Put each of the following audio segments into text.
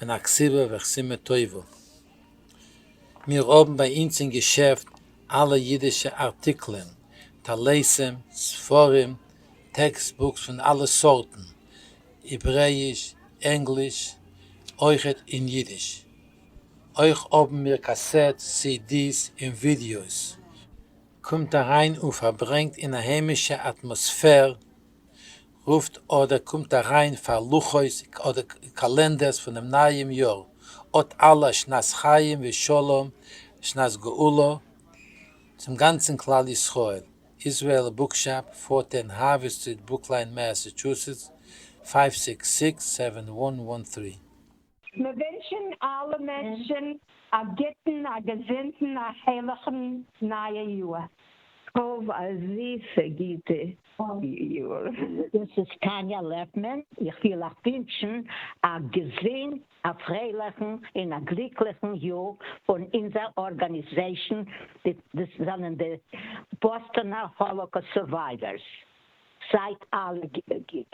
און א כסבה וכסימה טובה. מיר האבן ביי אונז אין געשעפט אלע אידישע ארטיקלען, טליתים, ספרים, טעקסט בוקס פון אלע סארטן, העברעיש, ענגליש, אויכעט אין אידיש. אויך האבן מיר קאסעט סידיס און ווידיאוס. קומט אריין און פארברענגט אין א היימישע אטמאספער רופט אדער קומט אריין פאר לוחות אדער קאלענדערס פונעם נייעם יאר, אט אלע א שנת חיים ושלום שנת גאולה צום גאנצן כלל ישראל, איזרעאל בוקשאפ, פארטען האווי סטריט ברוקליין מעסעטשוסעטס, פייוו סיקס סיקס סעווען וואן וואן טרי. מיר ווינטשן אלע מענטשן א גוטן א געזונטן א הערליכן נייע יאר. האב א זיסע גוטע יאר. דאס איז טאניא לעפמאן, איך וויל אייך ווינטשן א געזונט א פרייליכן און א גליקליכן יאר פון אונזער ארגאניזעישן, דאס זענען די באסטאנער האלאקאסט סורווייווערס. זייט אלע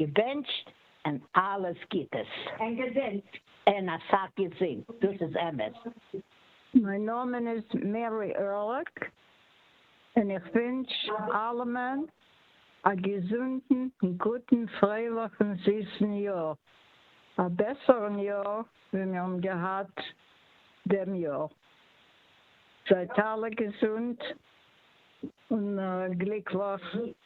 געבענטשט און אלעס גוטס. און געזונט. און אסאך געזונט. דאס איז אמת. מיין נאמען איז מערי ערליך און איך ווינטש אלעמען א געזונטן גוטן פרייליכן זיסן יאר, א בעסערן יאר ווי מיר האבן געהאט דעם יאר, זייט אלע געזונט און גליקליך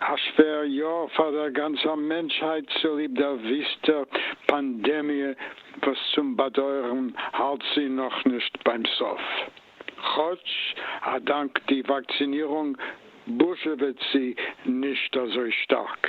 א שווער יאר פאר דער גאנצער מענטשהייט צוליב דער וויסטער פאנדעמיע וואס צום באדויערן האלט זי נאכנישט ביים סוף. כאטש א דאנק די וואקצינירונג בוזשעוועט זי נישט אזוי שטארק.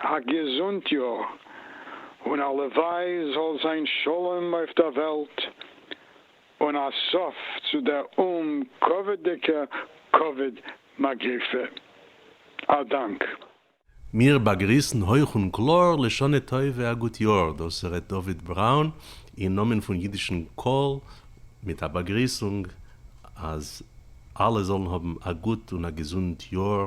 א געזונט יאר, און הלוואי זאל זיין שלום אויף דער וועלט, און א סוף צו דער אומקאוויד'דיגע קאוויד מגיפה. א דאנק. מיר באגריסן הויך און קלאר לשנה טובה א גוט יאר, דאס ר' דוד בראון אין נאמען פון אידישן קול מיט א באגריסונג אז אלע זאלן האבן א גוט און א געזונט יאר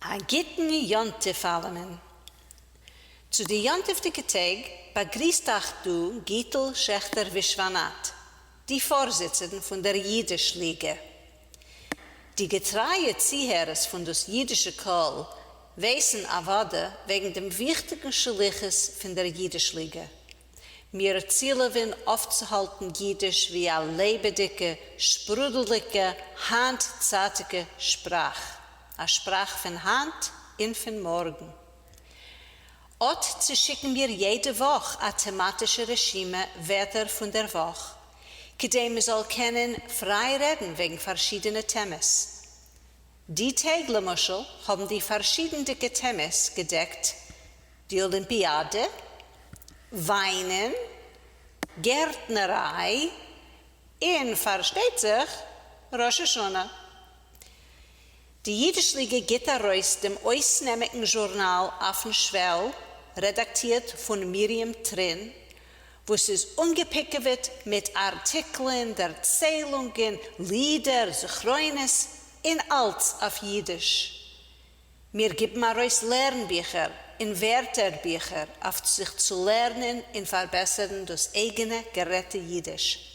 א גוטן יום טוב אלעמען. צו די יום טוב'דיגע טעג באגריסט אייך דא גיטל שעכטער ווישוואנאט, די פארזיצערן פון דער אידיש ליגע. די געטרייע צוהערערס פון דאס אידישע קול ווייסן אוודאי וועגן דעם וויכטיגן שליחות פון דער אידיש ליגע, מיר צילעווען אויפצוהאלטן יידיש ווי א לעבעדיגע, שפרודלדיגע, היינט-צייטיגע שפראך, א שפראך פון היינט און פון מארגן. אט צושיקן מיר יעדע וואך א טעמאטישע רשימה ווערטער פון דער וואך, כדי מ'זאל קענען פריי רעדן וועגן פארשידענע טעמעס. די טעג למשל האבן די פארשידענדיגע טעמעס געדעקט די אולימפיאדע, וויינען, גערטנעריי, און פארשטייט זיך ראש השנה. די אידיש ליגע גיבט ארויס דעם אויסנעמיגן זשורנאל אויפן שוועל רעדאקטירט פון מרים טרין וואס איז אנגעפיקעוועט מיט ארטיקלען, דערציילונגען, לידער, זכרונות, און אלץ אויף אידיש. מיר גיבן ארויס לערנביכער און ווערטערביכער אויף זיך צו לערנען און פארבעסערן דאס אייגענע גערעדטע אידיש.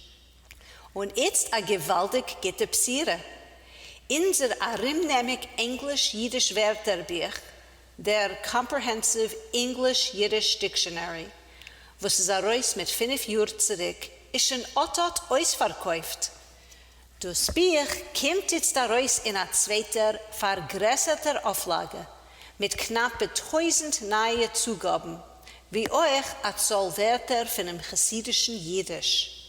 און איצט א געוואלדיג גוטע בשירה, אונזער ארומנעמיג ענגליש-אידיש ווערטערבוך, דער קאמפרעהענסיוו אינגליש אידיש דיקשאנערי וואס איז ארויס מיט פֿינף יאר צוריק איז שוין אט אט אויספארקויפט, דאס בוך קומט איצט ארויס אין א צווייטער פארגרעסערטער אויפלאגע מיט קנאפע טויזנט נייע צוגאבן, ווי אויך א צאל ווערטער פונעם חסידישן אידיש.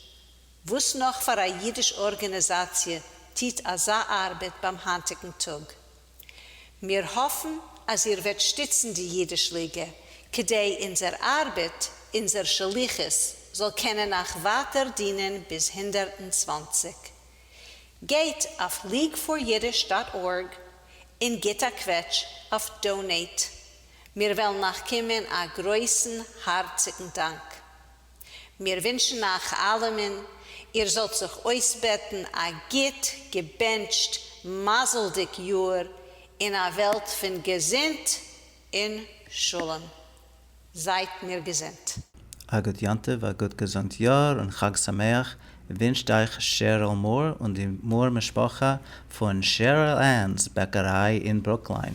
וואס נאך פאר א אידיש ארגענעזאציע טוט אזא ארבעט ביים היינטיגן טאג? מיר האפן אז איר וועט שטיצן די אידיש ליגע כדי אונזער ארבעט, אונזער שליחות זאל קענען אייך ווייטער דינען ביז הונדערט און צוואַנציק. גייט אויף leagueforyiddish דאט ארג און גיט א קוועטש אויף דאונעיט, מיר וועלן אייך קומען א גרויסן הארציגן דאנק. מיר ווינטשן אייך אלעמען איר זאלט זיך אויסבעטן א גוט געבענטשט מזל'דיג יאר אין א וועלט פון געזונט און שלום. זייט מיר געזונט. א גוט יום טוב, א גוט געזונט יאר און חג שמח ווינטשט אייך שעריל מאר און די מאר משפחה פון שעריל ענס בעקעריי אין ברוקליין.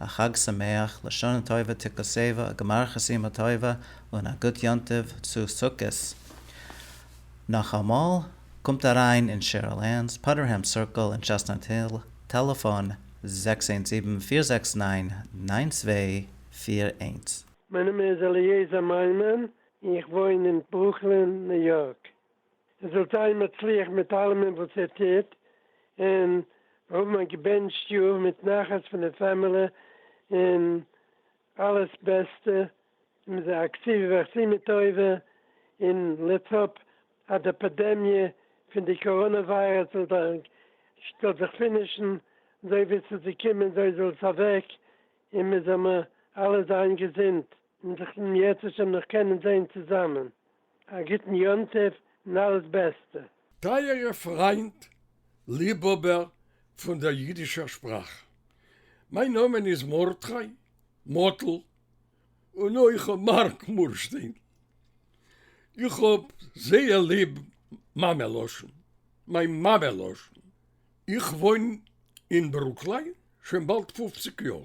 א חג שמח, לשנה טובה תקוסבה, א גמר חתימה טובה און א גוט יום טוב צו סוכות. נאכאמאל, קומט אריין אין שערל לענדס, פאדערהעם סירקל אין טשעסטנאט היל, טעלעפאן, זעקס איינס זיבן פיר זעקס ניין ניין צוויי פיר איינס. מיין נאמען איז אליעזר מיימון און איך וואוין אין ברוקלין ניו יארק. איר זאלט זיין מצליח מיט אלעמען וואס איר טוט, און מיר האבן א געבענטשט יאר מיט נחת פון די פעמעלע און אלעס בעסטע, און מיר זענען אקטיווע ועשינו טובה, און לעטס האפ אז די פעדעמיע פון די קאראנע וויירוס זאל זיך זאל זיך פינישן, אזוי ווי עס איז געקומען אזוי זאל עס אוועק, און מיר זאל מיר אלע זיין געזונט. און זיך דעם יעצט השם נאך קענען זעהן צוזאמען, א גוטן יום טוב און אלעס בעסטע. טייערע פריינט, ליבהאבער פון דער יידישער שפראך. מיין נאמען איז מרדכי מאטל, און אויך מארק מורשטיין. איך האב זייער ליב מאמע לשון, מיין מאמע לשון. איך וואוין אין ברוקליין שוין באלד פופציג יאר.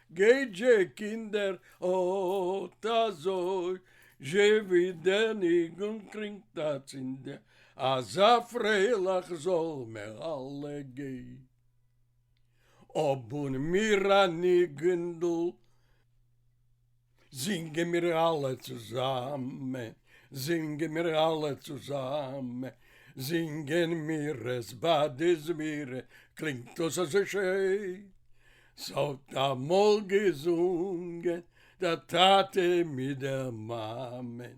גײט זשע, קינדער, אָט אַזױ, זשע װי דער ניגון קלינגט אַצינד, אַזאַ פֿרײלעך זאָל מער אַלע גײן. האָבן מיר אַ ניגונדל. זינגען מיר אלע צוזאמען, זינגען מיר אלע צוזאמען, זינגען מיר עס ביי די זמירה, קלינגט דאס אזוי שיין. ס'האט אמאל געזונגען דער טאטע מיט דער מאמען.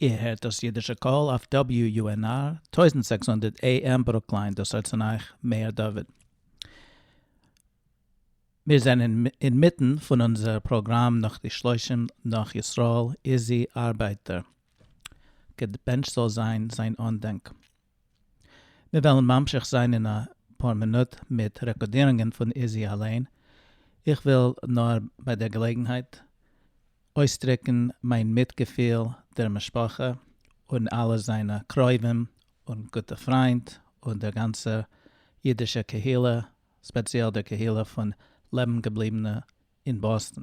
איר הערט דאס אידישע קול אויף WUNR טויזנט זעקס הונדערט AM ברוקליין דאס הארץ פון אייך מאיר דוד. מיר זענען אינמיטן פון אונזער פראגראם נאך די שלושים נאך ישראל איזי ארבייטער געבענטשט זאל זיין זיין אנדענק מיר וועלן ממשיך זיין אין א פאר מינוט מיט רעקארדירונגען פון איזי אליין, איך וויל נאר ביי דער געלעגנהייט אויסדרוקן מיין מיטגעפיל דער משפחה און אלע זיינע קרובים און גוטע פריינט און דער גאנצער אידישער קהילה, ספעציעל דער קהילה פון לעבן געבליבענע אין באסטן.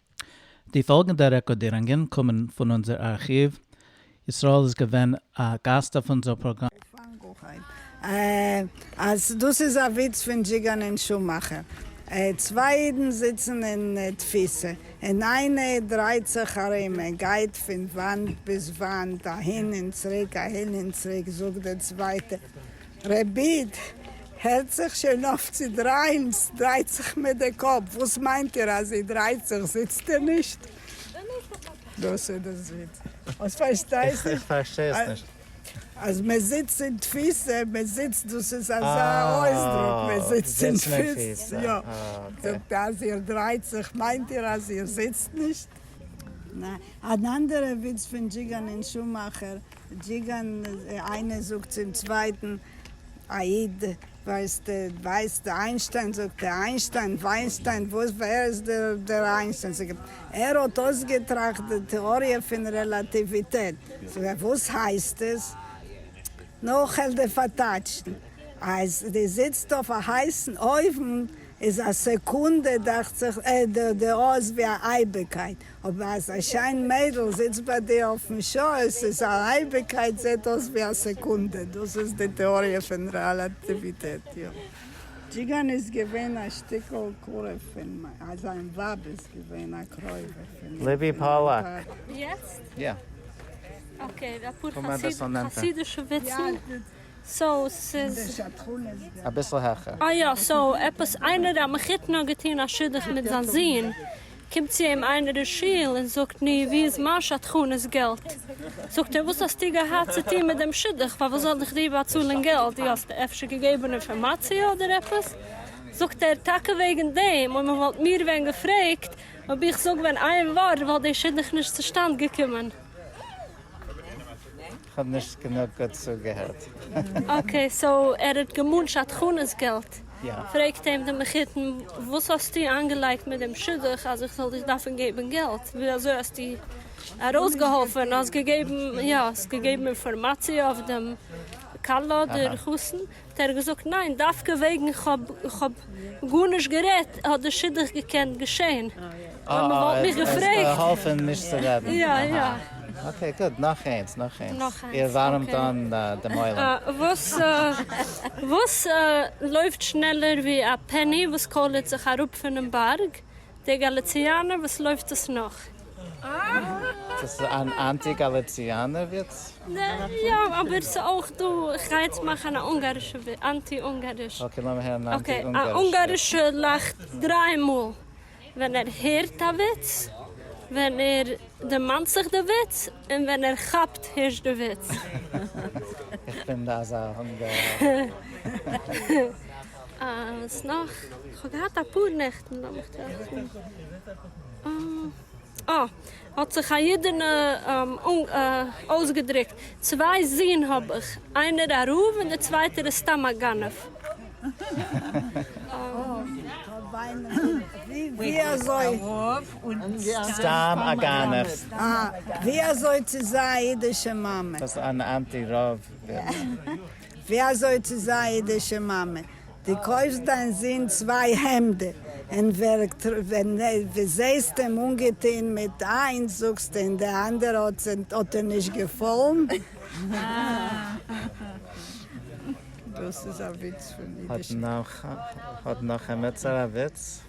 די פאלגענדע רעקארדירונגען קומען פון אונזער ארכיוו, ישראל איז געווען א גאסט אויף אונזער פראגראם. איך פאנג אויך אן אז דאס איז א וויץ פון דזשיגאן און שומאכער. צוויי אידן זיצן אין תפיסה און איינע דרייט זיך ארום און גייט פון וואנט ביז וואנט, אהין און צוריק, אהין און צוריק, זאגט דער צווייטער, רעביט, הערט זיך שוין אויף צו דרייען, סדרייט זיך מיר די קאפ, וואס מיינט איר אז זי דרייט זיך, זיצט איר נישט? דאס איז די זיץ, אז פארשטייסט איך פארשטיי עס נישט. אז מען זיצט אין תפיסה, מען זיצט דאס איז אזא אויסדרוק, מען זיצט אין תפיסה, יא, זאגט אז איר דרייט זיך, מיינט איר אז איר זיצט נישט? אן אנדערע וויץ פון דזשיגאן און שומאכער, דזשיגאן, איינער זאגט צום צווייטן, א איד, ווייסט ווייסט איינשטיין? זאגט ער, איינשטיין? וויינסטיין? וואס ווער איז דער איינשטיין? זאגט ער, ער האט אויסגעטראכט די טעאריע פון רעלאטיוויטעט. זאגט ער, וואס הייסט עס? נאכעלט די פארטייטשן, אז די זיצט אויף א הייסן אויוון איז א סעקונדע דאכט זיך די אות ווי א אייביגקייט, אבער אז א שיין מיידל זיצט ביי דיר אויפן שויס איז א אייביגקייט זעט אויס ווי א סעקונדע, דאס איז די טעאריע פון רעלאטיוויטעט. דזשיגאן איז געווען א שטיקל קרוב פון מיין, אז זיין ווייב איז געווען א קרובה פון ליבי פאללאק. יעצט? יא. אקעי, אפאר חסידישע וויצן, סאו ס'איז. אביסל העכער. אה יא, סאו עפעס איינער א מחותן האט געטון א שידוך מיט זיין זון, קומט צו אים איינער אין שול און זאגט, נו, וואו איז מיין שדכנות געלט? זאגט ער, וואס האסטו געהאט צו טון מיט דעם שידוך? פארוואס זאל איך דיר באצאלען געלט? דו האסט אפשר געגעבען אינפארמאציע אדער עפעס? זאגט ער, טאקע וועגען דעם, אויב מען וואלט מיר ווען געפרעגט, אויב איך זאג ווען איין ווארט וואלט דער שידוך נישט צושטאנד געקומען. כ'האב נישט גענוג גוט צוגעהערט. אקעי סאו ער האט געמאלן שדכנות געלט? יא. פרעגט אים די מחותן וואס האסטו איינגעלייגט מיט דעם שידוך אז איך זאל דיך דארפן געבן געלט? ווי אזוי האסטו ארויסגעהאלפן? האסט געגעבן יא האסט געגעבן אינפארמאציע אויף דעם כלה דער חתן? האט ער געזאגט ניין דווקא וועגן כ'האב כ'האב גארנישט גערעדט האט די שידוך געקענט געשען אויב מען וואלט מיך געפרעגט. געהאלפן נישט צו רעדן. יא יא. אקעי גוט נאך איינס נאך איינס. נאך איינס. איר ווארעמט אן דעם עולם. וואס וואס לויפט שנעלער ווי א פעני וואס קוילערט זיך אראפ פונעם בארג, דער גאליציאנער וואס לויפט עס נאך? דאס איז אן אנטי גאליציאנער וויץ? יא, אבער ס'אויך דא, כ'גיי יעצט מאכן א אונגארישע וויץ, אנטי אונגאריש. אקעי לאמיר הערן א אנטי אונגארישע וויץ. א אונגארישער לאכט דריי מאל ווען ער הערט א וויץ, ווען ער דערמאנט זיך די וויץ, און ווען ער כאפט הערשט די וויץ. איך בין אזא אונגאר. אז נאך, כ'האב געהאט אפאר נעכטן, לאמיך טראכטן, אה, האט זיך א אידענע אויסגעדרוקט, צוויי זין האב איך, איינער א רב און די צווייטער איז סתם א גנב. ווי אזוי צו זיין א אידישע מאמע, דו קויפסט דיין זון צוויי העמדע, און ווען דו זעהסט אים אנגעטוהן מיט איינס זאגסטו און די אנדערע האט דיר נישט געפאלן? דאס איז א וויץ פון אידישע. האט נחמעצער א וויץ?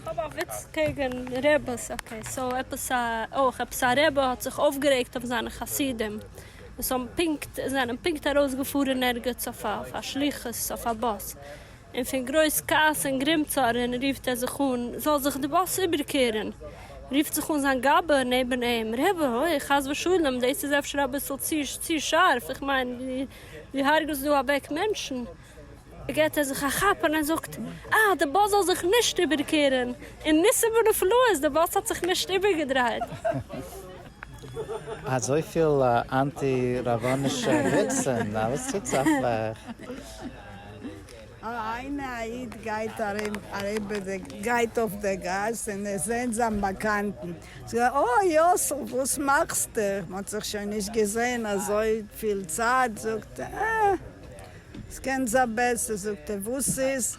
כ'האב א וויץ קעגן רעבעס, אקעי סאו עפעס א אויך עפעס א רעבע האט זיך אויפגערעגט אויף זיינע חסידים וואס האבן פונקט זענען פונקט ארויסגעפארן ערגעץ אויף א שליחות אויף א באס און פון גרויס כעס און גרימצארן רופט ער זיך אן זאל זיך די באס איבערקערן רופט זיך אן זיין גבאי נעבן אים רעבע אוי חס ושלום דאס איז אפשר אביסל צו שארף איך מיין דו הרג'סט דא אוועק מענטשן. געט ער זיך א כאפ און ער זאגט, אה, די באס זאל זיך נישט איבערקערן! און ניסים ונפלאות, די באס האט זיך נישט איבערגעדרייט! אזויפיל אנטי רבנישע וויצן, א וואס טוט זיך אויף אייך? איינע א איד גייט ארום אריבער די גייט אויף די גאס און ער זעהט זיין באקאנטן, זאגט ער, אה יאסל וואס מאכסטו? מ'האט זיך שוין נישט געזעהן אזויפיל צייט, זאגט ער, אה. ס'קען זיין בעסער, זאגט ער, וואס איז?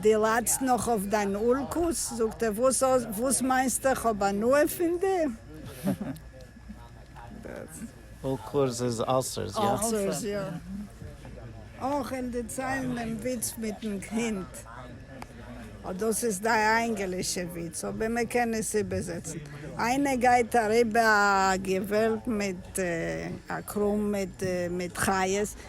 די ליידסט נאך אויף דיין אלקות? זאגט ער, וואס האסט, וואס מיינסטו, איך האב הנאה פון דיר? אלקות איז אלסערס, יא? אלסערס, יא. אויך אין די ציילן דעם וויץ מיטן הינט. אט דאס איז די ענגלישע וויץ, אבער מען קען עס איבערזעצן. איינער גייט אריבער א געוועלד מיט א קראם מיט חיות.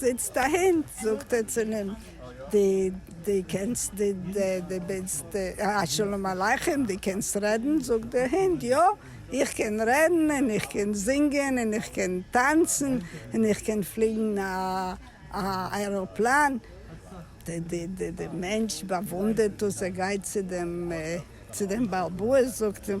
זיצט א הונט, זאגט ער צו אים, די די קענסט די די ביסט א שלום עליכם, די קענסט רעדן? זאגט די הונט, יא, איך קען רעדן, און איך קען זינגען, און איך קען טאנצן, און איך קען פליגן א א עראפלאן. די די די די מענטש באוואונדערט דאס, ער גייט צו דעם צו דעם בעל בית, זאגט אים,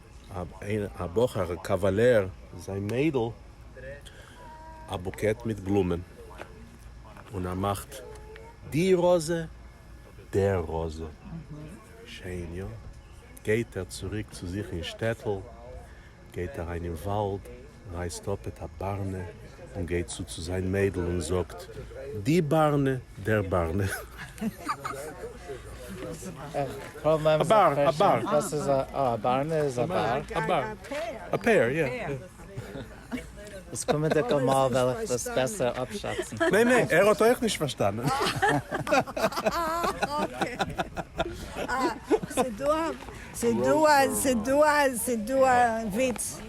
א בחור א קאוועלער זיין מיידל א בוקעט מיט בלומען און ער מאכט די ראזע דער ראזע שיין יא גייט ער צוריק צו זיך אין שטעטל גייט אריין אין וואלד. רייסט אפ את הברנה און גייט צו צו זיין מיידל און זאגט, די ברנה, דער ברנה. א באר, א באר. וואס איז א, אה, א בארנע איז א באר? א באר. א פער, יא. דאס קומענדיגע מאל וועל איך דאס בעסער אפשאצן. ניין ניין, ער האט אויך נישט פארשטאנען. ס'דא א וויץ.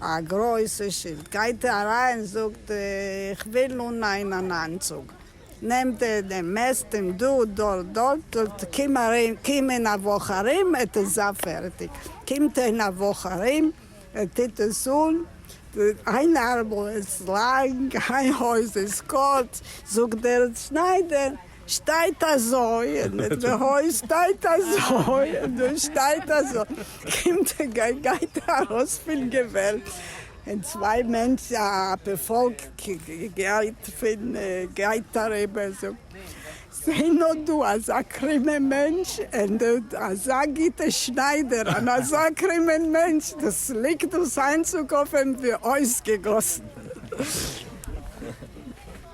א גרויסע שילד. גייט ער אריין זאגט איך וויל אננעימען אן איינצוג. נעמט ער דעם מעסט אים דא דארט דארט קום אריין קום אין א וואך ארום ער טוט זיין פערטיג. קומט ער אין א וואך ארום ער טוט עס אן איין ארמל איז לאנג איין הויז איז קורץ זאגט דער שניידער שטייט אזוי און מיט די הויז שטייט אזוי און דא שטייט אזוי קומט ער גייט גייט ער ארויס פון געוועלב און צוויי מענטשן א פארפאלק גייט פון גייט אריבער זאגט זיי נאר דא אזא קרומע מענטש און דא אזא גוטע שניידער און אזא קרומען מענטש דאס ליגט דאס איינצוג אויף אים ווי אויסגעגאסן.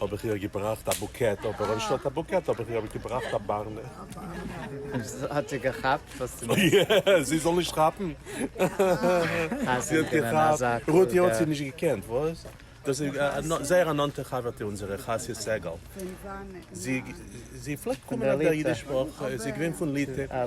האב איך איר געבראכט א בוקעט, אבער אנשטאט א בוקעט האב איך איר געבראכט א בארנע. האט זי געכאפט וואס דו מיינסט? אוי, זי זאל נישט כאפן? זי האט געכאפט? רותי האט זי נישט געקענט, וואס? דאס איז זייער א נאנטע חבר'טע אונזערע, חיה סגל. זי פלעגט קומען אויף דער אידיש וואך, זי איז געווען פון ליטע.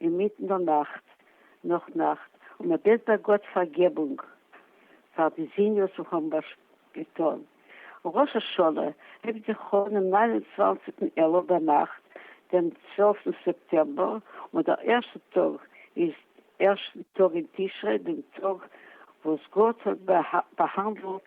אינמיטן דער נאכט, נאך נאכט, און מען בעט ביי גאט פארגעבונג פאר די זיניאס וואס האבן געטאן. ראש השנה הייבט זיך אן דעם נײַן און צוואַנציק אלול ביינאכט, דעם צוועלפטן סעפטעמבער, און דער ערשטער טאג איז ערשטן טאג אין תשרי, דעם טאג וואס גאט האט באהאנדלט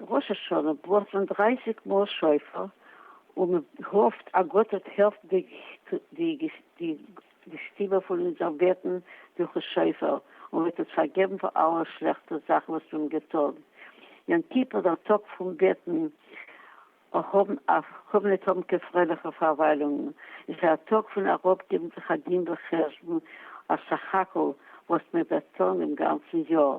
ראש השנה בלאזט מען דרייסיג מאל שופר און מען האפט א גוטע טהירט די שטימע פון אונזער בעטן דורכן שופר און וועט אונז פארגעבן פאר אלע שלעכטע זאכן וואס מיר האבן געטון. יום כיפור דער טאג פון בעטן און ניט האבן קיין פרייליכע פארוויילונגן איז א טאג פון אראפגעבן זיך א דין וחשבון אויף סך הכל וואס מען וועט טון דעם גאנצן יאר.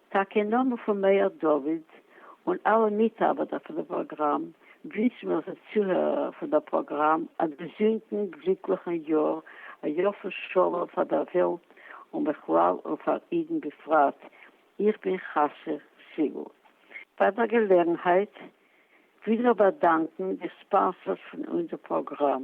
טאקע אין נאמען פון מאיר דוד און אלע מיטארבעטער פון די פראגראם, גריסן מיר די צוהערער פון דער פראגראם, א געזונטן גליקליכן יאר, א יאר פון שלום פאר דער וועלט און בכלל און פאר אידן בפרט, איך בין חסר סיגל. ביי דער געלעגנהייט וויל איך באדאנקן די ספאנסארס פון אונזער פראגראם.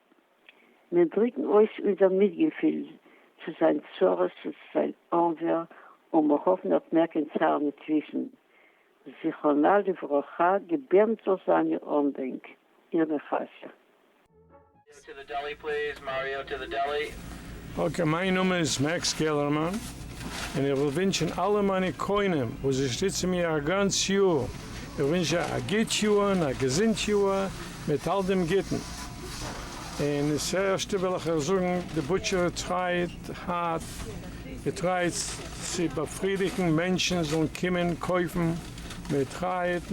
מיר דריקן אויס אונזער מיטגעפיל צו זיין צרות און צו זיין אנווער און מיר האפן ער האט מער קיין צער ניט וויסן זכרונה לברכה געבערנט זאל זיין איר אנדענק איר נחשון. אקעי מיין נאמען איז מעקס קעלערמאן און איך וויל ווינטשען אלע מיינע קונים וואס זיי שטיצען מיר א גאנץ יאר איך ווינטש זיי א גיט יאר און א געזינט יאר. מיט אַל דעם גוטן, און און ס'ערשטע װעל איך אײַך זאָגן, די בוטשערע טרײט האַרט, זי טרײט צו באַפֿרידיקן מענטשן זאָלן קומען קױפֿן, מע טרײט,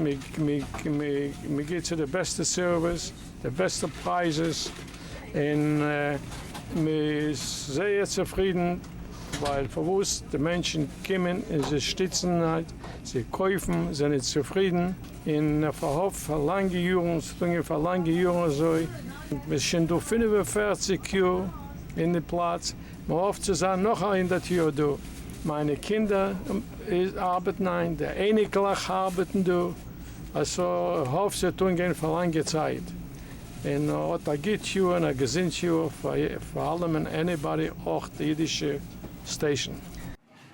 מע גיט זײ די בעסטע סערװיס, די בעסטע פּרײַזעס, און מע איז זײער צופֿרידן, װײַל פֿאַר װאָס די מענטשן קומען און זײ שטיצן, זײ קױפֿן, זײַנען צופֿרידן. און פארהאפט פאר לאנגע יארן, ס'האט אנגעהויבן פאר לאנגע יארן אזוי, מ'איז שוין דא פֿינף און פֿערציק יאר אין די פלאץ, מ'האפט צו זיין נאך א הונדערט יאר דא, מיינע קינדער ארבעטן היינט, די אייניקלעך ארבעטן דא, א ס ה איך האף ס'וועט אנגיין פאר לאנגע צייט, און האט א גוט יאר און א געזונט יאר פאר אלעמען עניבאדי אויך די אידישע סטעישן.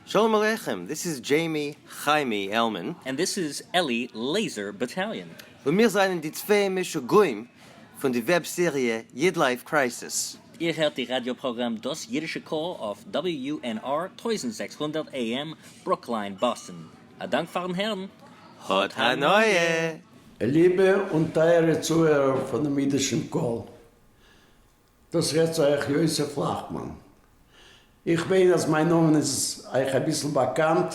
שלום עליכם, דיס איז דזשעימי חיימי עלמען. און דיס איז אלי לעיזער באטאליאן. און מיר זענען די צוויי משוגעים פון די וועב סעריע איד לייף קרייסיס. איר הערט די ראדיא פראגראם דאס אידישע קול אויף WNR טויזנט זעקס הונדערט AM ברוקליין באסטן. א דאנק פארן הערן. האט הנאה! ליבע און טייערע צוהערער פונעם אידישן קול. דאס רעדט אייך יוסף לאכמאן. איך מיין אז מיין נאמען איז אייך אביסל באקאנט,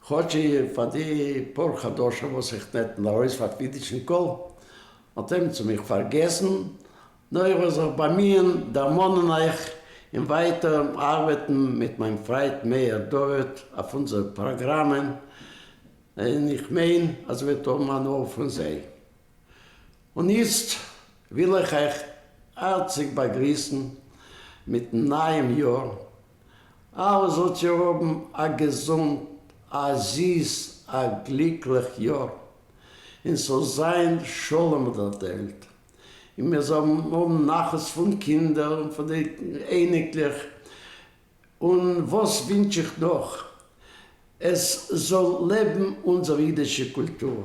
כאטש פאר די פאר חדשים וואס איך נעתן ארויס פאר קווידישן קול האט עמיצער מיך פארגעסן, נאר איך וועל זיך באמיען דערמאנען אייך און ווייטער ארבעטן מיט מיין פריינט מאיר דוד אויף אונזערע פראגראמען, און איך מיין אז איר וועט האבן הנאה פון זיי. און איצט וויל איך אייך הארציג באגריסן מיטן נייעם יאר, אלע זאלט איר האבן א געזונט, א זיס, א גליקליך יאר, און ס'זאל זיין שלום אויף דער וועלט, און מיר זאלן האבן נחת פון קינדער און פון די אייניקלעך, און וואס ווינטש איך נאך, עס זאל לעבן אונזער אידישע קולטור.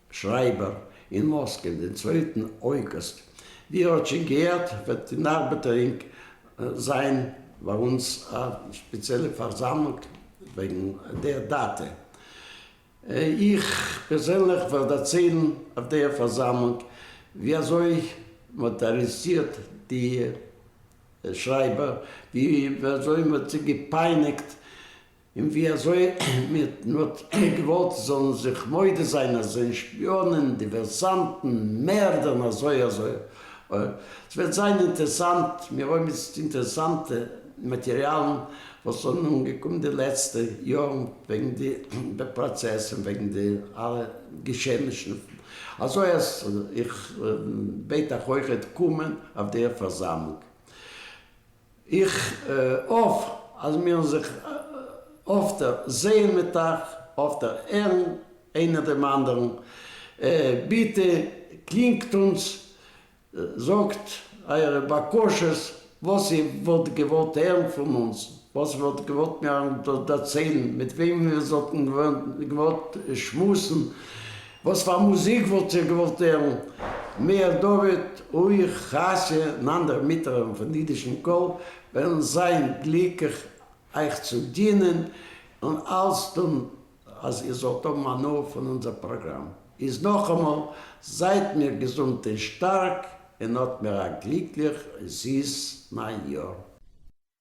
שרייבער אין מאסקע דעם צווייטן אויגוסט, ווי ער האט שוין געהערט וועט אין ארבעטערינג זיין ביי אונז א שפעציעלע פארזאמלונג וועגן דער דאטע. איך פערזענליך וועל דערציילן אויף דער פארזאמלונג ווי אזוי מען האט ארעסטירט די שרייבער, ווי אזוי מען האט זיי געפייניגט און ווי אזוי מען האט געוואלט זאלן זיך מודה זיין אז זענען שפיאנען, דיווערסאנטן, מערדערן אזוי אזוי אוי. עס וועט זיין אינטערסאנט, מיר האבן איצט אינטערסאנטע מאטעריאלן וואס זענען אנגעקומען די לעצטע יארן וועגן די פראצעס און וועגן די אלע געשעענישן, אזוי אז איך בעט אייך אויכעט קומען אויף דער פארזאמלונג. איך האף אז מיר זיך אפטער זעהן מיט אייך, אפטער הערן איינער דעם אנדערן. ביטע קלינגט אונז, זאגט אייערע בקשות, וואס איר וואלט געוואלט הערן פון אונז, וואס איר וואלט געוואלט מיר דערציילן, מיט וועם מיר זאלטן געוואלט שמועסן, וואס פאר מוזיק וואלט איר געוואלט הערן מער? דוד אוהיך, חשי, און אנדערע מיטהערער פון אידישן קול וועלן זיין גליקליך אייך צו דינען און אלס טון אז איר זאלט האבן הנאה פון אונזער פראגראם. איז נאכאמאל, זייט מיר געזונט און שטארק, און האט מיר א גליקליך און זיס ניי יאר.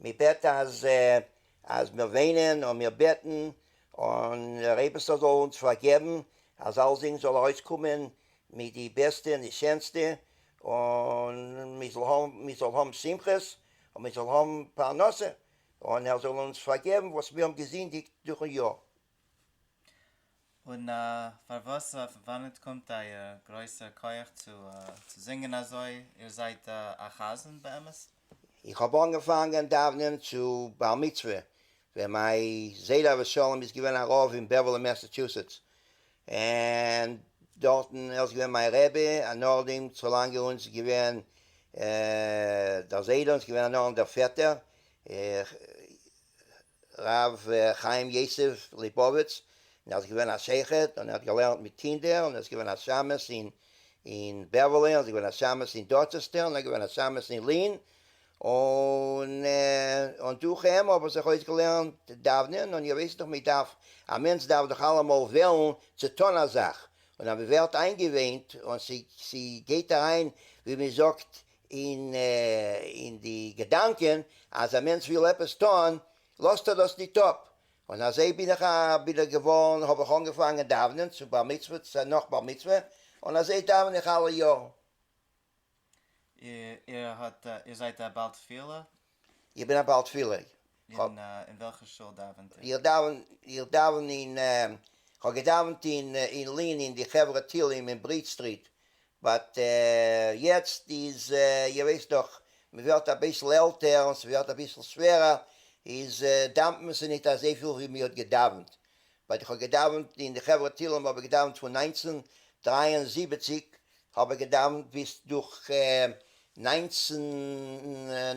מען בעט אז אז מיר וויינען און מיר בעטן און דער אייבערשטער זאל אונז פארגעבן אז אלזינג זאל ארויסקומען מיט די בעסטע און די שענסטע און מען זאל האבן מען זאל האבן שמחות און מען זאל האבן פרנסה און ער זאל אונז פארגעבן וואס מיר האבן געזינדיגט דורכן יאר. און פארוואס אויף וואנעט קומט אייער גרויסער כח צו זינגען אזוי? איר זייט א חזן באמת? איך האב אנגעפאנגען דאוונען צו בר מצוה ווען מיין זיידע אבשלום איז געווען א רב אין בעווערלי מעסעטשוסעטס און דארטן ער איז געווען מיין רבי און נאכדעם צו לאנגע אונז איז געווען דער זיידע און ס'איז געווען א נאכדעם דער פעטער איך ר' חיים יוסף ליפאוויץ און ער איז געווען א שוחט און ער האט געלערנט מיט קינדער און ער איז געווען א שמשׂ אין אין בעווערלי און ער איז געווען א שמשׂ אין דארטשעסטער און ער איז געווען א שמשׂ אין לין און און דורך אים האב איך זיך אויסגעלערנט דאוונען און איר ווייסט דאך מען דארף א מענטש דארף דאך אלעמאל וועלן צו טון א זאך און אז מען ווערט איינגעווענט און ס'גייט אריין ווי מען זאגט און אין די געדאנקען אז א מענטש וויל עפעס טון לאזט ער דאס ניט אפ, און אזוי בין איך בין איך געווארן האב איך אנגעפאנגען דאוונען צו בר מצוה צ נאך בר מצוה און אזוי דאווען איך אלע יארן. איר האט איר זייט א בעל תפילה? איך בין א בעל תפילה. אין וועלכע שול דאווענט איר? איך דאווען אין, איך האב געדאווענט אין אין לין אין די חברה תהילים אין ברידזש סטריט, באט יעצט איז איר ווייסט דאך מ'ווערט אביסל עלטער און ס'ווערט אביסל שווערער איז דאווענט מען זיך נישט אזויפיל ווי מ'האט געדאווענט. ווייל איך האב געדאווענט אין די חברה תהילים האב איך געדאווענט פון נײַנצן דרײַ און זיבעציק האב איך געדאווענט ביז דורך נײַנצן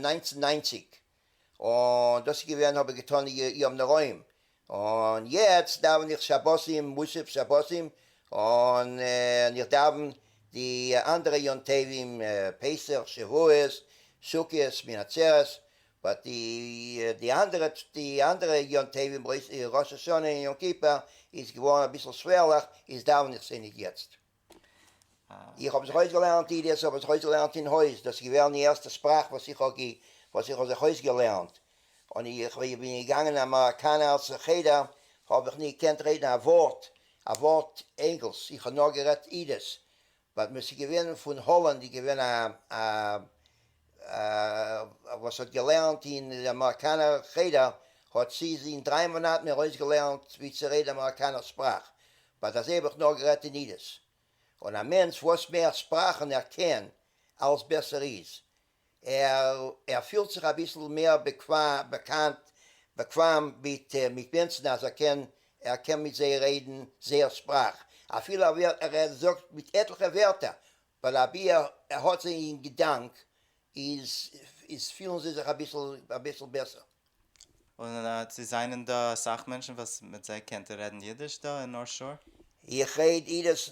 נײַנצן נײַנציק און דאס איז געווען האב איך געטון יום נוראים און יעצט דאווען איך שבתים מוסף שבתים און איך דאווען די אנדערע יום טובים פסח שבועות סוכות שמיני עצרת באט די אנדערע די אנדערע יום טובים ראש השנה און יום כיפור איז געווארן אביסל שווערליך איז דאווען איך זיי נישט יעצט. איך האב זיך אויסגעלערנט אידיעס אבער זיך אויסגעלערנט אין הויז דאס איז געווען די ערשטע שפראך וואס איך האב וואס איך האב זיך אויסגעלערנט און איך ווען איך בין געגאנגען אין אמעריקאנער חדר האב איך נישט געקענט רעדן א ווארט א ווארט ענגלש איך האב נאר גערעדט אידיש ווייל מען ס'איז געווען פון האלאנד איז געווען א וואס האט געלערנט אין די אמעריקאנער חדר האט צי איז אין דריי מאנאט מיר אויסגעלערנט ווי צי רעדן אמעריקאנער שפראך באט אזוי האב איך נאר גערעדט אין אידיש און א מענטש וואס מער שפראכן ער קען אלס בעסער איז ער פילט זיך אביסל מער באקוועם מיט מענטשן אז ער קען ער קען מיט זיי רעדן זייער שפראך אפילו ער זאגט מיט עטליכע ווערטער ווייל אבי ער האט זיי אין געדאנק איז פילן זיי זיך אביסל בעסער. און צו זענען דא אסאך מענטשן וואס מיט זיי קענט איר רעדן אידיש דא אין נארט שאור? איך רעד אידש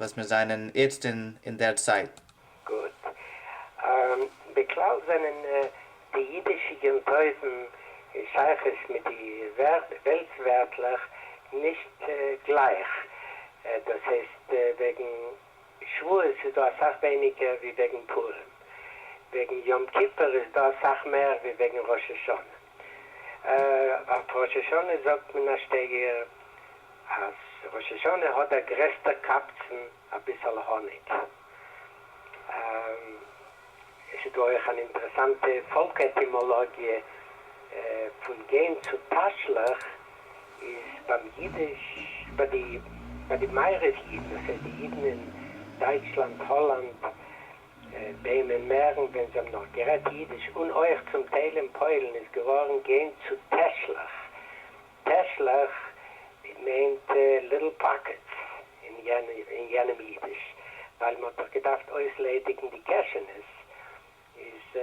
וואס מיר זענען איצט אין אין דער צייט. גוט. בכלל זענען די אידישע גענטויזן אין שייכות מיט די וועלטס ווערטלעך נישט גלייך. דאס הייסט, וועגן שבועות איז דא אסאך ווייניגער ווי וועגן פורים. וועגן יום כיפור איז דא אסאך מער ווי וועגן ראש השנה. אויף ראש השנה זאגט מען א שטייגער אז ראש השנה האט דער גרעסטער קבצן אביסעל האניג. עס איז דא אויך אן אינטערעסאנטע פאלק עטימאלאגיע פון גיין צו תשליך איז ביים אידיש ביי די ביי די מערב אידן, עס הייסט די אידן אין דייטשלאנד, האלאנד, ביימען מערן ווען זיי האבן נאך גערעדט אידיש און אויך צום טייל אין פוילן איז געווארן גיין צו טעשלעך, טעשלעך מיינט ליטל פאקעטס אין יענעם אידיש, ווייל מען האט דאך געדארפט אויסליידיגן די קעשענעס איז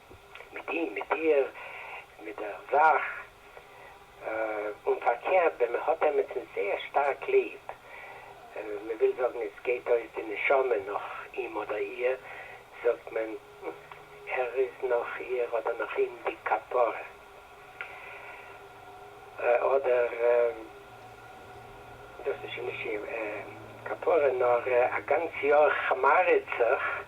מיט אים, מיט איר, מיט דער זאַך, און פֿאַרקערט, װען מע האָט עמעצן זײער שטאַרק ליב, מע װיל זאָגן, עס גײט אױס די נשמה נאָך אים אָדער איר, זאָגט מען, ער איז נאָך איר אָדער נאָך אים די כּפּרה, אָדער, דאָס איז שױן נישט איר כּפּרה, נאָר אַ גאַנץ יאָר כמאַרעט זיך.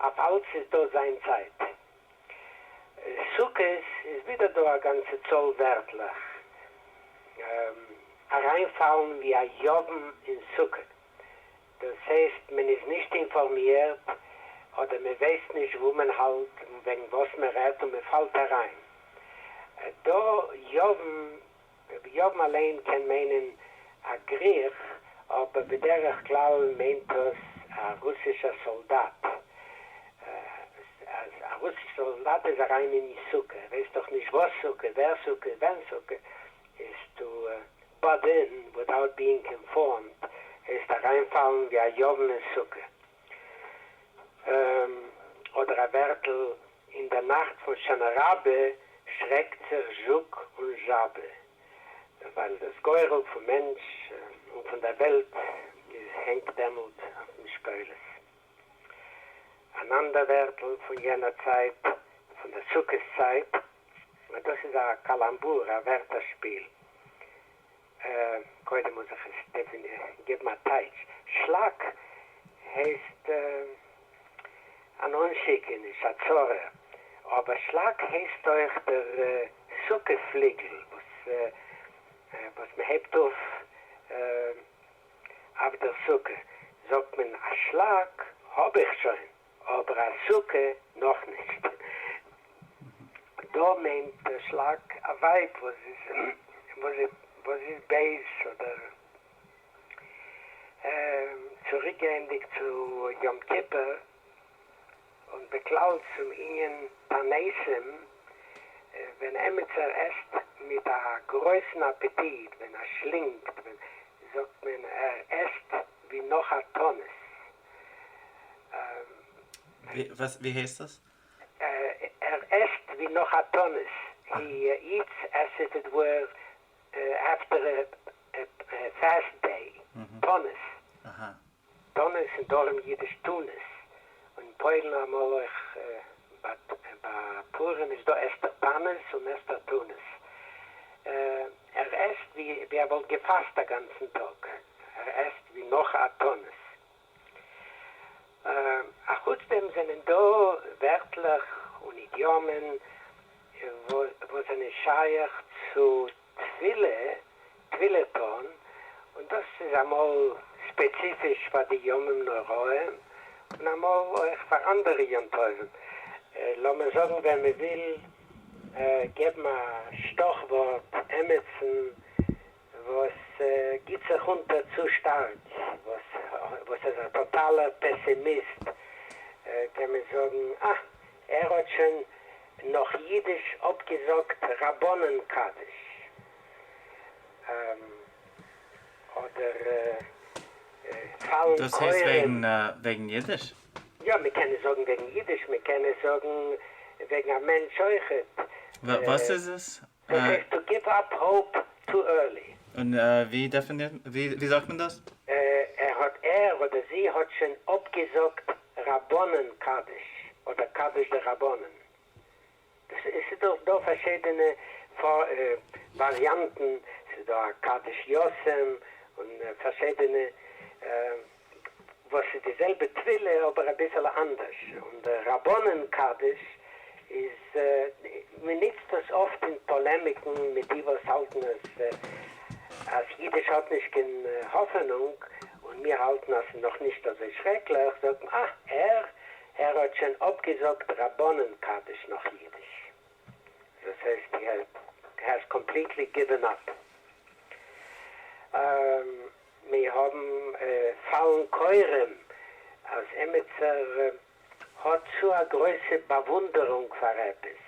אויף אלץ איז דא זיין צייט. סוכות איז ווידער דא א גאנצע צאל ווערטלעך אריינפאלן ווי א יוון אין סוכה. דאס הייסט מען איז נישט אינפארמירט אדער מען ווייסט נישט וואו מען האלט און וועגן וואס מען רעדט און מען פאלט אריין. דא יוון דער ביהמ ד אליין קען מיינען א גריך, אבער בדרך כלל מיינט עס א רוסישער סאלדאט. אז א רוסישער סאלדאט איז אריין אין די סוכה, ער ווייסט דאך נישט וואס סוכה, ווער סוכה, ווען סוכה, איז טו באד אין, וויטאוט ביאינג אינפארמד, העסטו אריינפאלן ווי א יאוון אין סוכה. ם, אדער א ווערטל, אין דער נאכט פון שנה רבה שרעקט זיך זשוק און זשאבע, ווייל דאס גורל פון מענטש און פון דער וועלט איז הענגט דעמאלט אויף משקולות. אן אנדער ווערטל פון יענער צייט, פון דער סוכות צייט, דאס איז א קאלאמבור, א ווערטער-שפיל, קודם מוז איך עס געבן א טייטש. שלאק הייסט אן אנשיקעניש, א צרה. אבער שלאק הייסט אויך דער סוכה פליגל וואס מען הייבט אויף אויף דער סוכה, זאגט מען א שלאק האב איך שוין. אבער א סוכה נאך נישט. דא מיינט דער שלאק א ווייב וואס איז בייז אדער צוריקגייענדיג צו יום כיפור און בכלל צום ענין פרנסים, ווען עמיצער עסט מיט א גרויסן אפעטיט, ווען ער שלינגט, זאגט מען ער עסט ווי נאך א תענית. ווי הייסט עס? ער עסט ווי נאך א תענית, הי איטס עס איף איט ווער עפטער ע פעסט דעי, תענית, תענית און דרום אידיש טונעס, און פוילן אמאל אויך, ביי פורים איז דא עסטער תענית און עסטער טונעס. ער עסט ווי ווי ער וואלט געפאסט א גאנצן טאג, ער עסט ווי נאך א תענית. א חוץ דעם זענען דא ווערטלעך און אידיאמען וואס זענען שייך צו תפילה, תפילה טון, און דאס איז אמאל ספעציפיש פאר די ימים נוראים און אמאל אויך פאר אנדערע יום טובים, לאמיר זאגן ווען מען וויל געבן א שטאך ווארט עמיצן וואס גיבט זיך אונטער צו שטארק, וואס איז א טאטאלער פעסימיסט, קען מען זאגן אה, ער האט שוין נאך אידיש אפגעזאגט רבנן קדיש, אדער פאלן כורעים. דאס הייסט וועגן אידיש? יא מען קען עס זאגן וועגן אידיש, מען קען עס זאגן וועגן א מענטש אויכעט. וואס איז עס? דאס הייסט טו גיוו אפ האופ טו ערלי. און ווי דעפינירט, ווי זאגט מען דאס? ער האט, ער אדער זי האט שוין אפגעזאגט רבנן קדיש אדער קדיש דרבנן, עס איז דאך דא פארשידענע וואריאנטן, עס איז דא א קדש יאסעם און פארשידענע וואס איז די זעלבע טבילה אבער אביסעלע אנדערש, און די רבנן קדש איז מען ניצט דאס אפט אין פאלעמיקן מיט די וואס האלטן אז אז אידיש האט נישט קיין האפענונג און מיר האלטן אז עס איז נאך נישט אזוי שרעקליך זאגט מען אה ער ער האט שוין אפגעזאגט רבנים קדיש נאך אידיש, דאס הייסט ער העז קאמפליטלי גיווען אפ. מיר האבן פאלן כורעים אז עמיצער האט צו א גרויסע באוואונדערונג פאר עפעס,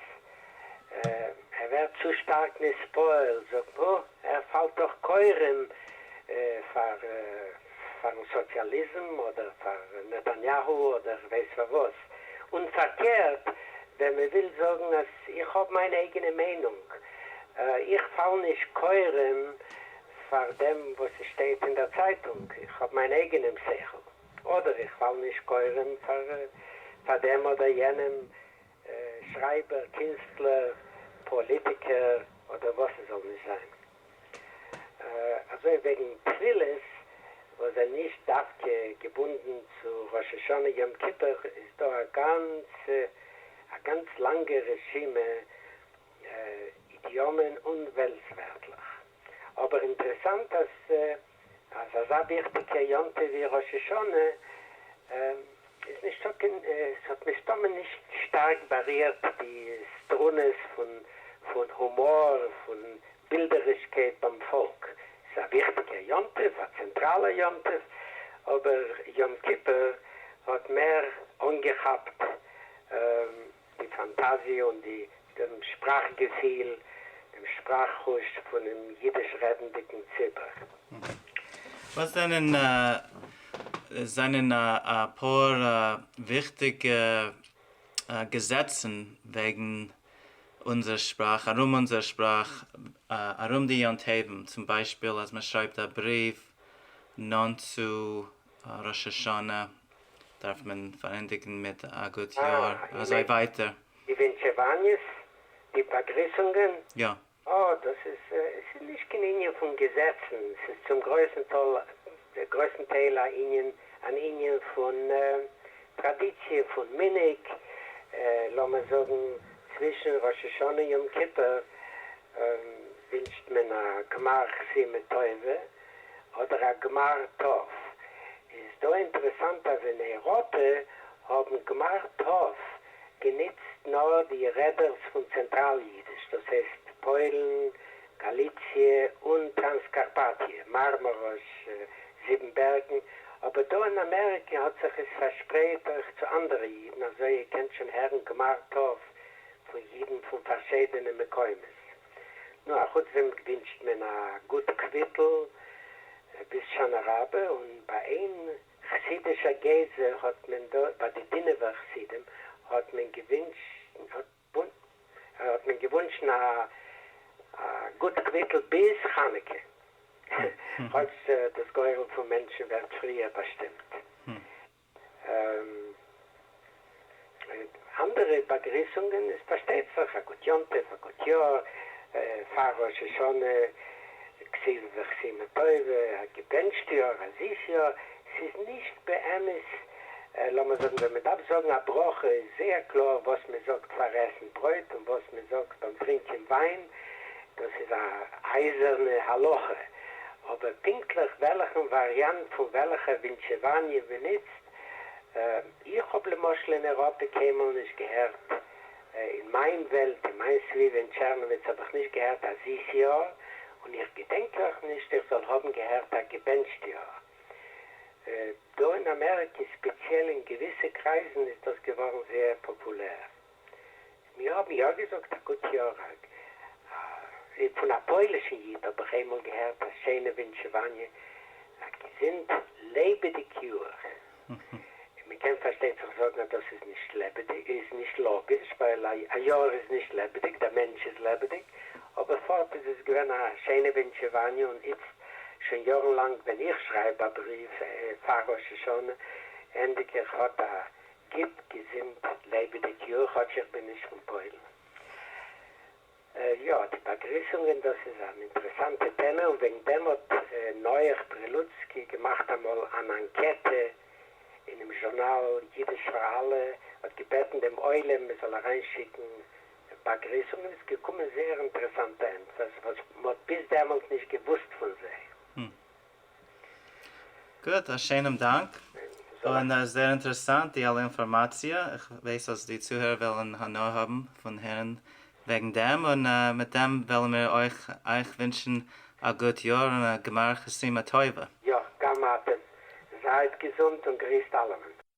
ער ווערט צו שטארק נספוילט, זאגט מען, אה, ער פאלט דאך כורעים פאר'ן סאציאליזם אדער פאר נתניהו אדער כ'ווייס פאר וואס. און פארקערט, ווען מען וויל זאגן אז איך האב מיין אייגענע מיינונג, איך פאל נישט כורעים פאר דעם וואס עס שטייט אין דער צייטונג, איך האב מיין אייגענעם שכל, אדער איך פאל נישט כורעים פאר דעם אדער יענעם, שרייבער, קינסטלער, פאליטיקער, אדער וואס ס'זאל נישט זיין. אזוי וועגן תפילות וואס זענען נישט דווקא געבונדן צו ראש השנה יום כיפור איז דא א גאנצע א גאנץ לאנגע רשימה אידיאמען און וועלטס ווערטלעך. אבער אינטרעסאנט אז. אז אזא וויכטיגע יום טוב ווי ראש השנה איז נישטא קיין, עס האט מסתמא נישט שטארק בארירט די סטרונעס פון הומאר, פון בילדערישקייט ביים פאלק. עס איז א וויכטיגע יום טוב, א צענטראלע יום טוב, אבער יום כיפור האט מער אנגעכאפט. די פאנטאזיע און די דעם שפראך געפיל, דעם שפראך חוש פונעם אידיש רעדנדיגן ציבור. וואס זענען זענען אפאר וויכטיגע געזעצן וועגן אונזער שפראך, ארום אונזער שפראך, ארום די יום טוב'ן, צום ביישפיל אז מען שרייבט א בריוו נאנט צו ראש השנה דארף מען פארענדיגן מיט א גוט יאר, און אזוי ווייטער. די ווינטשעוואניעס? די באגריסונגען? יא. אה, דאס איז, עס איז נישט קיין ענין פון געזעצן, עס איז צום גרויסן טאל, גרויסן טייל א ענין, אן ענין פון טראדיציע, פון מנהג, לאמיר זאגן צווישן ראש השנה יום כיפור ווינטשט מען א גמר חסימה טובה, אדער א גמר טוב, איז דא אינטערעסאנט אז אין אייראפע האבן גמר טוב גענוצט נאר די רעדערס פון צענטראל אידיש, דאס הייסט פוילן, גאליציע, און טראנסקארפאטיע, מארמאראש, זיבן בערגן, אבער דא אין אמעריקע האט זיך עס פארשפרייט אויך צו אנדערע אידן, אזוי איר קענט שוין הערן גמר טוב פון אידן פון פארשידענע מקומות. נו, א חוץ דעם ווינטשט מען א גוט קוויטל ביז שנה רבה, און ביי איין חסידישע גזע האט מען דא, ביי די דינוב'ער חסידים, האט מען געוואונטשן א גוט קוויטל ביז חנוכה, כאטש דאס גורל פון מענטשן ווערט פריער באשטימט. אנדערע באגריסונגען איז פארשטייט זיך א גוט יום טוב, א גוט יאר, פאר ראש השנה, כסיל וכסימה טובה, א געבענטשט יאר, א זיס יאר, ס'איז נישט באמת, לאמער זאגן ווען מען דארף זאגן א ברכה איז זייער קלאר וואס מען זאגט פאר עסן ברויט און וואס מען זאגט ביים טרינקען וויין, דאס איז א אייזערנע הלכה, אבער פונקטליך וועלכן וואריאנט פון וועלכע ווינטשעוואניע מ'נוצט, איך האב למשל אין אירופה קיינמאל נישט געהערט, אין מיין וועלט, אין מיין סביבה אין טשערנאוויץ האב איך נישט געהערט א זיס יאר, און איך געדענק אויך נישט איך זאל האבן געהערט א געבענטשט יאר. דא אין אמעריקע, ספעציעל אין געוויסע קרייזן, איז דאס געווארן זייער פאפולער. מיר האבן יא געזאגט א גוט יאר הרג א, פון א פוילישן איד האב איך איינמאל געהערט א שיינע ווינטשעוואניע, א געזונט לעבעדיג יאר, און מען קען פארשטייט זיך זאגן אז דאס איז נישט לעבעדיג, איז נישט לאגיש, ווייל א יאר איז נישט לעבעדיג, דער מענטש איז לעבעדיג, אבער פארט איז עס געווען א שיינע ווינטשעוואניע, און איצט שוין יארן לאנג ווען איך שרייב א בריוו פאר ראש השנה ענדיג איך האט א גוט געזונט לעבעדיג יאר כאטש איך בין נישט פון פוילן. יא די באגריסונגען דאס איז אן אינטערעסאנטע טעמע און וועגן דעם האט נח פרילוצקי געמאכט אמאל אן אנקעטע אינעם זשורנאל אידיש פאר אלע האט געבעטן דעם עולם מען זאל אריין שיקן באגריסונגען איז געקומען זייער אינטערעסאנטע ענטפערס וואס מען האט ביז דעמאלט נישט געוואוסט פון זיי. גוט, א שענעם דאנק, און עס זעהר אינטערעסאנט די אלע אינפארמאציע, איך ווייס אז די צוהערער וועלען הנאה האבען פון הערען וועגען דעם, און מיט דעם וועלען מיר אויך אייך ווינטשען א גוט יאר און א גמר חתימה טובה. יא, גם אתם. זייט געזונט און גריסט אלעמען.